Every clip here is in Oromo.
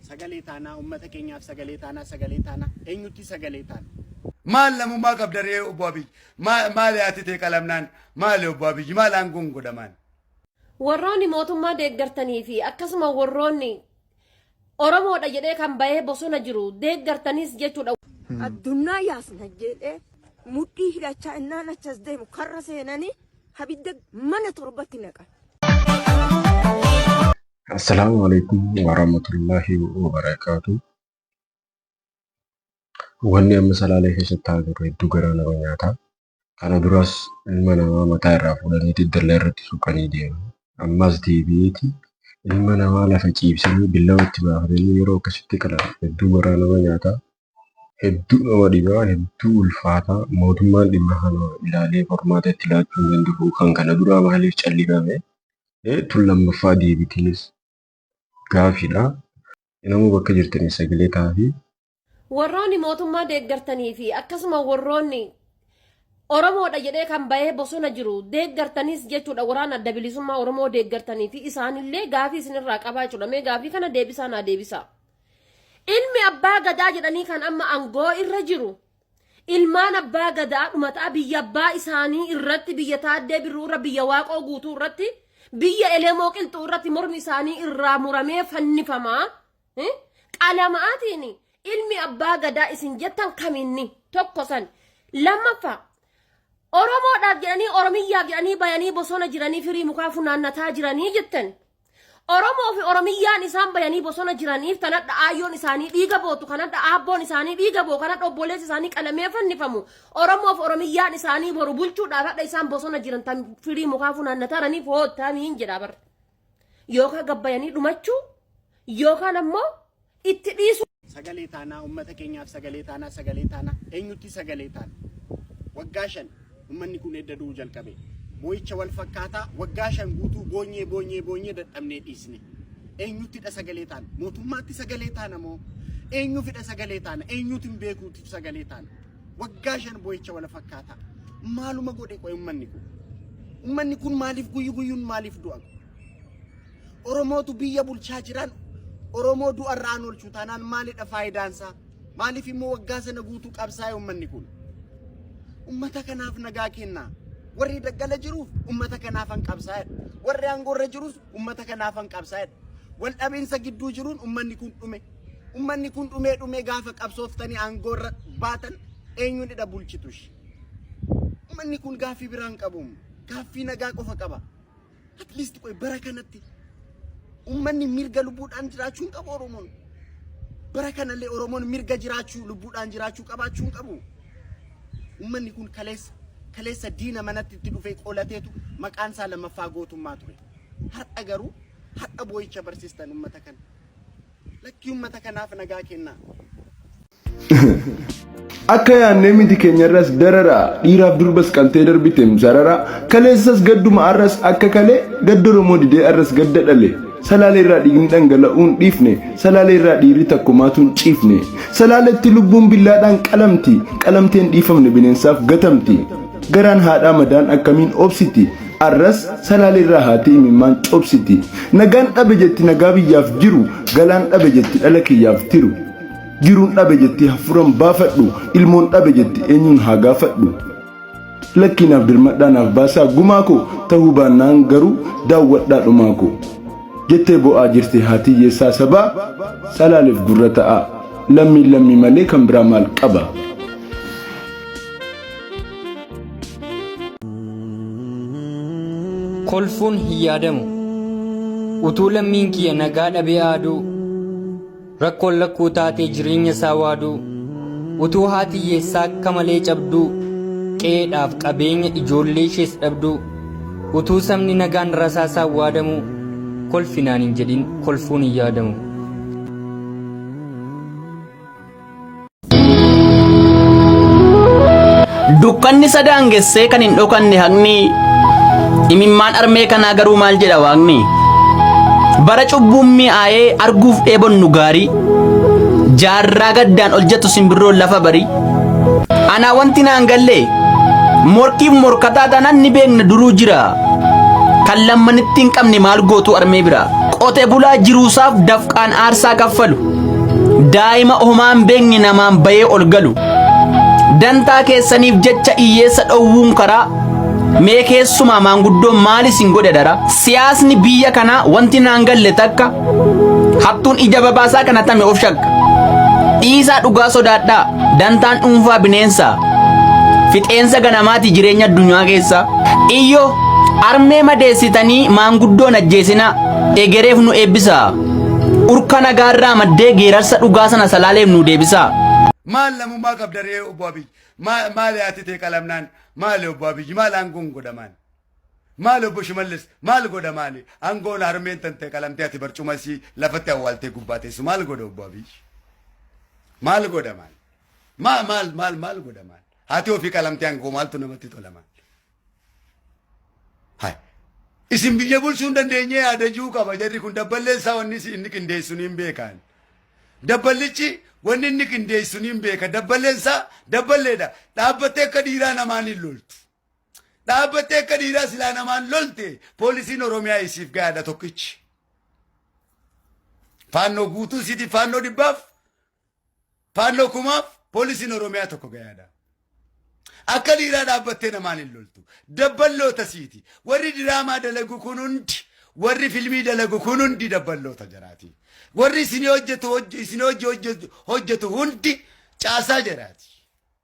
Sagalee taanaa ummata keenyaaf sagalee taanaa sagalee taanaa eenyutti sagalee taana. Maal namummaa qabda ree obbo Abiy? Maa- Maali haati tee qalamnaan? Maali obbo Abiy? Maal aangoon godhamaan? Warroonni mootummaa deeggartanii fi akkasuma warroonni Oromoodha jedhee kan bahee bosona jiru deeggartanis jechuudha. addunyaa yaasna jedhee mudhii hidhachaa innaan achas deemu karra seenanii abidda mana torbatti naqan. Assalaamu alaikum warahmatullahi wabarakaatu. Wanni amma salaalee keessatti ta'aa jiru hedduu garaa nama nyaata. Kana duras ilma namaa mataa irraa fuudhaniiti dallaa irratti suuqanii deemu. Ammas deebi'eeti ilma namaa lafa ciibsanii billawa itti baafatanii yeroo akkasitti qalan hedduu garaa nama nyaata. hedduu nama dhibaa hedduu ulfaataa mootummaan dhimma kana ilaalee qormaata itti laachuu hin danda'u kan kana duraa maaliif callifame tun lammaffaa deebitiinis gaafiidha namuu bakka jirtanii sagalee taa'afi. Warroonni mootummaa deeggartanii fi akkasuma warroonni Oromoodha jedhee kan bahee bosona jiru deeggartaniis jechuudha waraana adda bilisummaa Oromoo deeggartanii fi isaanillee gaafii isinirraa qabaa jechuudha mee gaafii kana deebisaa naa deebisaa Ilmi abbaa gadaa jedhanii kan amma angoo irra jiru ilmaan abbaa gadaa dhumataa biyya abbaa isaanii irratti biyya taaddee birruu irra biyya waaqoo guutuu irratti biyya elemoo qilxuu irratti mormi isaanii irraa muramee fannifamaa eh, qalamaatiin ilmi abbaa gadaa isin jettan kaminni tokko san lammaffaa Oromoodhaaf jedhanii Oromiyyaaf jedhanii bayanii bosona jiranii firii mukaa funaannataa jiranii jettan Oromoo fi Oromiyyaan isaan bayanii bosona jiraniif tanadha aayyoon isaanii dhiiga bootu kanadha aabboon isaanii dhiiga boo kanadha obboleessi isaanii qalamee fannifamu Oromoo fi Oromiyyaan isaanii boru bulchuudhaaf hadha isaan bosona jiran tan firii mukaa funaannataraniif hoottamiin jedha bar. Yookaan gabbayanii dhumachuu yookaan ammoo itti dhiisuu. Sagalee taanaa, ummata keenyaaf sagalee taanaa, sagalee taanaa, eenyutti sagalee taana? Waggaa shan ummanni kun edda du'uu jalqabe. Boo'icha wal fakkaataa waggaa shan guutuu boonyee boonyee boonyee dadhabnee dhiisne. Eenyuttidha sagalee taana? Mootummaatti sagalee taana moo? Eenyuufidha sagalee taana? Eenyuutiin beekuutiif sagalee taana? Waggaa shan boo'icha wal fakkaataa. Maaluma godhe qo'e ummanni kun? Ummanni kun maaliif guyyu guyyuun maaliif du'a? Oromootu biyya bulchaa jiraan Oromoo du'arraa an oolchu taanaan maalidha faayidaansaa? Maaliif immoo waggaa sana guutuu qabsaa'e ummanni kun? Ummata kanaaf nagaa kennaa. Warri daggala jiruuf ummata kanaaf an qabsaa'edha. Warri aangoorra jirus ummata kanaaf an qabsaa'edha. Wal dhabiinsa gidduu jiruun ummanni kun dhume. Ummanni kun dhumee dhumee gaafa qabsooftanii aangoorra baatan eenyuunidha bulchitush. Ummanni kun gaaffii biraan qabu. Gaaffii nagaa qofa qaba. At least qoy bara kanatti ummanni mirga lubbuudhaan jiraachuu hin qabu Oromoon. Bara kanallee Oromoon mirga jiraachuu lubbuudhaan jiraachuu qabaachuu hin qabu. Ummanni kun kaleessa kaleessa diina manatti itti dhufee qolateetu maqaan isaa lammaffaa gootummaa ture. Har'a garuu har'a boo'icha barsiistan ummata kana. Lakkii ummata kanaaf nagaa kennaa. Akka yaannee miti keenyarras dararaa dhiiraaf durbas qaltee darbiteem sararaa kaleessas gadduma arras akka kalee gadda Oromoo didee arras gadda dhale salaalee irraa dhiigni dhangala'uun dhiifne salaalee irraa dhiirri takkumaatuun ciifne salaaletti lubbuun billaadhaan qalamti qalamteen dhiifamne bineensaaf gatamti garaan haadhaa madaan akkamiin obsiti arras salaalee irraa haatee imimmaan cobsiti nagaan dhabe jetti nagaa biyyaaf jiru galaan dhabe jetti dhala kiyyaaf tiru. Jiruun dhabe jettee hafuuran baafadhu ilmoon dhabe jette eenyuun haa gaafadhu. Lakkii naaf dirmadhaa naaf baasaa gumaa koo ta'uu baannaan garuu daawwadhaa dhumaa koo. Jettee bo'aa jirti haati hiyyeessaa sabaa salaaleef gurra ta'aa lammiin lammii malee kan biraa maal qaba. Kolfuun hin yaadamu utuu lammiin kiyya nagaa dhabee aaduu. Rakkoon lakkuu taatee jireenya isaa waaduu utuu haati hiyyeessaa akka malee cabduu qe'eedhaaf qabeenya ijoollee ishees dhabduu utuu sabni nagaan rasaasaan waadamuu kolfinaan hin jedhin kolfuun hin yaadamu. Dukkanni isa daangessee kan hin dhokanne haqni imimmaan armee kanaa garuu maal jedha waaqni bara cubbuun mi'aayee arguuf dheebonnu gaarii jaarraa gaddaan ol jettu simbirroon lafa barii anaa wanti naan galle morkiif morkataa taanaan ni beekna duruu jira kan lammanitti hin qabne maal gootu armee bira qote bulaa jiruusaaf dafqaan aarsaa kaffalu. daa'ima homaan beekne namaan bayee ol galu dantaa keessaniif jecha iyyeessa dhowwuun karaa mee keessumaa maanguddoo maal isin godhe dara siyaasni biyya kanaa wanti naan galle takka hattuun ija babaasaa kana tame of shakka dhiisaa dhugaa sodaadhaa dantaan dhuunfaa bineensaa fixeensa ganamaati jireenya addunyaa keessaa iyyo armee madeessitanii maanguddoon ajjeesinaa egereef nu eebbisaa Urka nagaarraa maddee geerarsa dhugaa sana salaaleef nuu deebisaa. Maal namummaa qabda ree obbo Abiy? Maa- Maali haati tee qalamnaan? Maali obbo Abiy? Maal aangoon godhamaan? Maali obbo Shimallis? Maal godhamaani? Aangoon harmeen tantee qalamtee ati barcuma isii lafatti awwaaltee gubbaa teessu maal godha obbo Abiy? Maal godhamaan? Maal maal maal maal godhamaan? Haati ofii qalamtee aangoo maaltu namatti tolamaan? Hai. Isin biyya bulchuu hin dandeenye yaadajuu qaba jarri kun dabballeen isaa wanni isi- inni qindeessu ni hin beekaan. Dabballichi wanni inni qindeessu ni hin beeka dabballeen isaa dabballeedha dhaabbattee akka dhiiraa namaan hin loltu. Dhaabbattee akka dhiiraa silaa namaan lolte poolisiin Oromiyaa isiif gahaadha tokkichi. Faannoo guutuu siiti faannoo dhibbaaf Faannoo kumaaf poolisiin Oromiyaa tokko gayaadha. Akka dhiiraa dhaabbattee namaan hin loltu. Dabballoota siiti. Warri diraamaa dalagu kun hundi warri filmii dalagu kun hundi dabballoota jaraati. Warri isin hojjetu hojj- isin hojji hojjetu hojjetu hundi caasaa jaraati.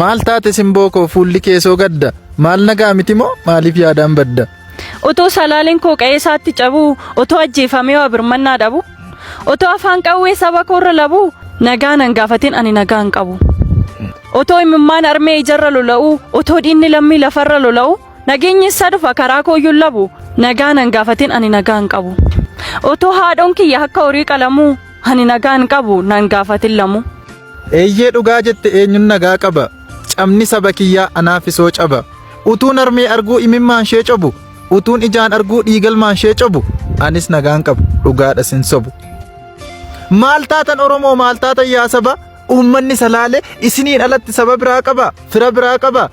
Maal taate simboo koo fuulli kee soo gadda maal nagaa miti moo maaliif yaadaan badda. Otoo salaaleen koo qa'ee isaatti cabuu otoo ajjeefamee waa birmannaa dhabu otoo afaan qawwee saba koorra labu nagaa nan gaafatin ani nagaa hin qabu. Otoo imimmaan armee ijarra lola'u otoo dhiinni lammii lafarra lola'u nageenyi isaa dhufa karaa kooyyuun labu nagaa nan gaafatin ani nagaa hin qabu. Otoo haadhoon kiyya akka horii qalamuu ani nagaa hin qabu nan gaafatin lamu. Eeyyee dhugaa jette eenyun nagaa qaba cabni saba kiyyaa anaaf isoo caba utuun armee arguu imimmaan shee cobu utuun ijaan arguu dhiigalmaan shee cobu anis nagaan qaba dhugaadha sin sobu maal taatan oromoo maal taatan yaa saba uummanni salaale isiniin alatti saba biraa qaba fira biraa qaba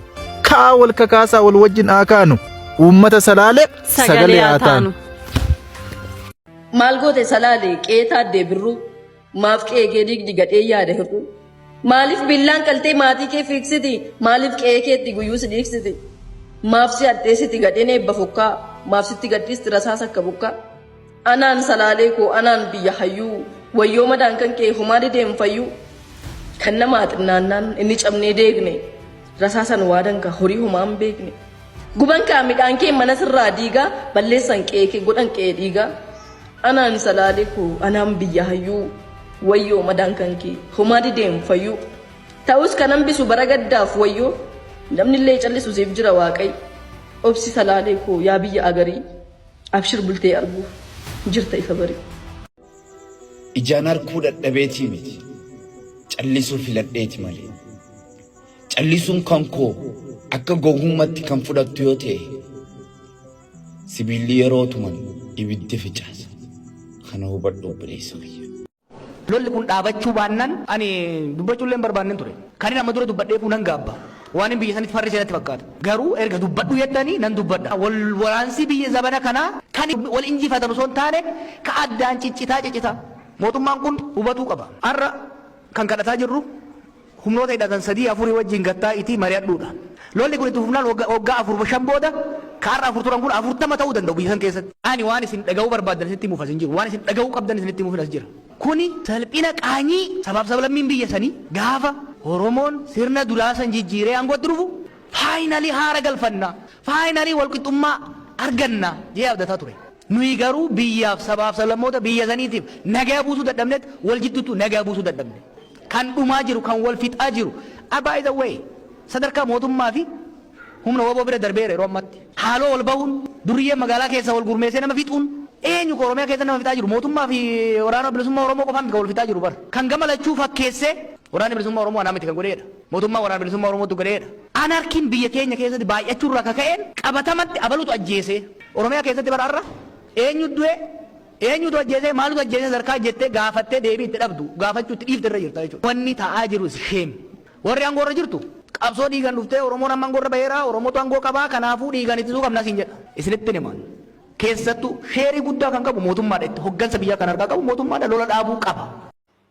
ka'aa wal kakaasaa wal wajjin haa kaanu uummata salaale sagalee haa taanu. Maal goote salaale qeetaa deebirruu. Maaf qe'ee kee diigdi gadhee yaada hir'uu? Maaliif billaan qaltee maatii kee fiigsiti? Maaliif qe'ee keetti guyyuu si dhiigsiti? Maaf si hadheessiti gadheen eebba fukkaa? Maaf sitti gadhiisti rasaas akka bukkaa? Anaan salaalee koo anaan biyya hayyuu wayyoo madaan kan kee homaa dideen fayyuu kan namaa xinnaannaan inni cabnee deegne Rasaasan waa danka horii homaa hin beekne. Guban kaa midhaan kee mana sirraa diigaa balleessan qe'ee kee godhan qe'ee dhiigaa. Anaan salaalee koo anaan biyya hayyuu wayyoo madaan kan kee homaa dideen fayyuu. Ta'us kan hambisu bara gaddaaf wayyoo namni illee callisu siif jira waaqayyo. Obsi salaalee koo yaa biyya agarii abshir bultee arguu jirta ifa barii. Ijaan arguu dadhabeetii miti callisuu filadheeti malee. Callisuun kan koo akka gowwummatti kan fudhattu yoo ta'e sibiilli yeroo tuman ibiddi ficaasa. Kana hubadhu obboleessa kiyya. Lolli kun dhaabachuu baannan ani dubbachuullee hin barbaannen ture. Kanin amma dura dubbadheefuu nan gaabba. Waanin biyya sanitti farrise natti fakkaata. Garuu erga dubbadhu jettanii nan dubbadha. Wal waraansi biyya zabana kanaa kan wal injifatan osoo hin taane ka addaan ciccitaa ciccitaa. Mootummaan kun hubatuu qaba. Har'a kan kadhataa jirru humnoota hidhatan sadii, afurii wajjin gad taa'iitii mari'adhuu dha. Lolli kun itti fufnaan wagga, waggaa afur, shan booda ka har'a afur turan kun afurtama ta'uu danda'u biyya san keessatti. Ani waan isin dhaga'uu barbaaddan isinitti himuuf as hin jiru. Waan isin dhaga'uu qabdan isinitti himuufin as jira. Kuni salphina qaanyii sabaaf sablammiin biyya sanii gaafa Oromoon sirna duraa san jijjiiree aangootti dhufu finally haara galfanna, finally walqixxummaa arganna jedhee abdataa ture. Nuyi garuu biyyaaf, sabaaf sablammoota biyya saniitiif nagaya buusuu dadhabnet wal jidduuttuu nagaya buusuu dadhabne. Kan dhumaa jiru, kan wal fixaa jiru a by the way sadarkaa mootummaa fi humna wbo bira darbeera yeroo ammatti. Haaloo wal bahuun, durriyyeen magaalaa keessaa wal gurmeessee nama fixuun eenyu ka Oromiyaa keessa nama fixaa jiru? Mootummaa fi Waraana Bilisummaa Oromoo qofaa miti kan wal fixaa jiru bar. Kan gama lachuu fakkeessee Waraanni Bilisummaa Oromoo anaa miti kan godhee dha. Mootummaa Waraana Bilisummaa Oromootu godheedha. Anarchy'n biyya keenya keessatti baay'achuu irraa ka ka'een qabatamatti abalutu ajjeese. Oromiyaa keessatti bara har'a eenyu du'e, eenyutu ajjeese, maaltu ajjeese sadarkaa jettee gaafattee deebii itti dhabdu gaafachuu itti dhiifte irra jirta jechuudha. Wanni ta'aa jiru is shame. Warri aangoo irra jirtu qabsoo dhiigan dhuftee Oromoon amma aangoo irra baheera, Oromootu aangoo qaba, kanaafuu dhiigaan ittisuu qabna siin jedha. Isinittin hima. Keessattuu sheerii guddaa kan qabu mootummaadha. Itti hoggansa biyyaa kan harkaa qabu mootummaadha. Lola dhaabuu qaba.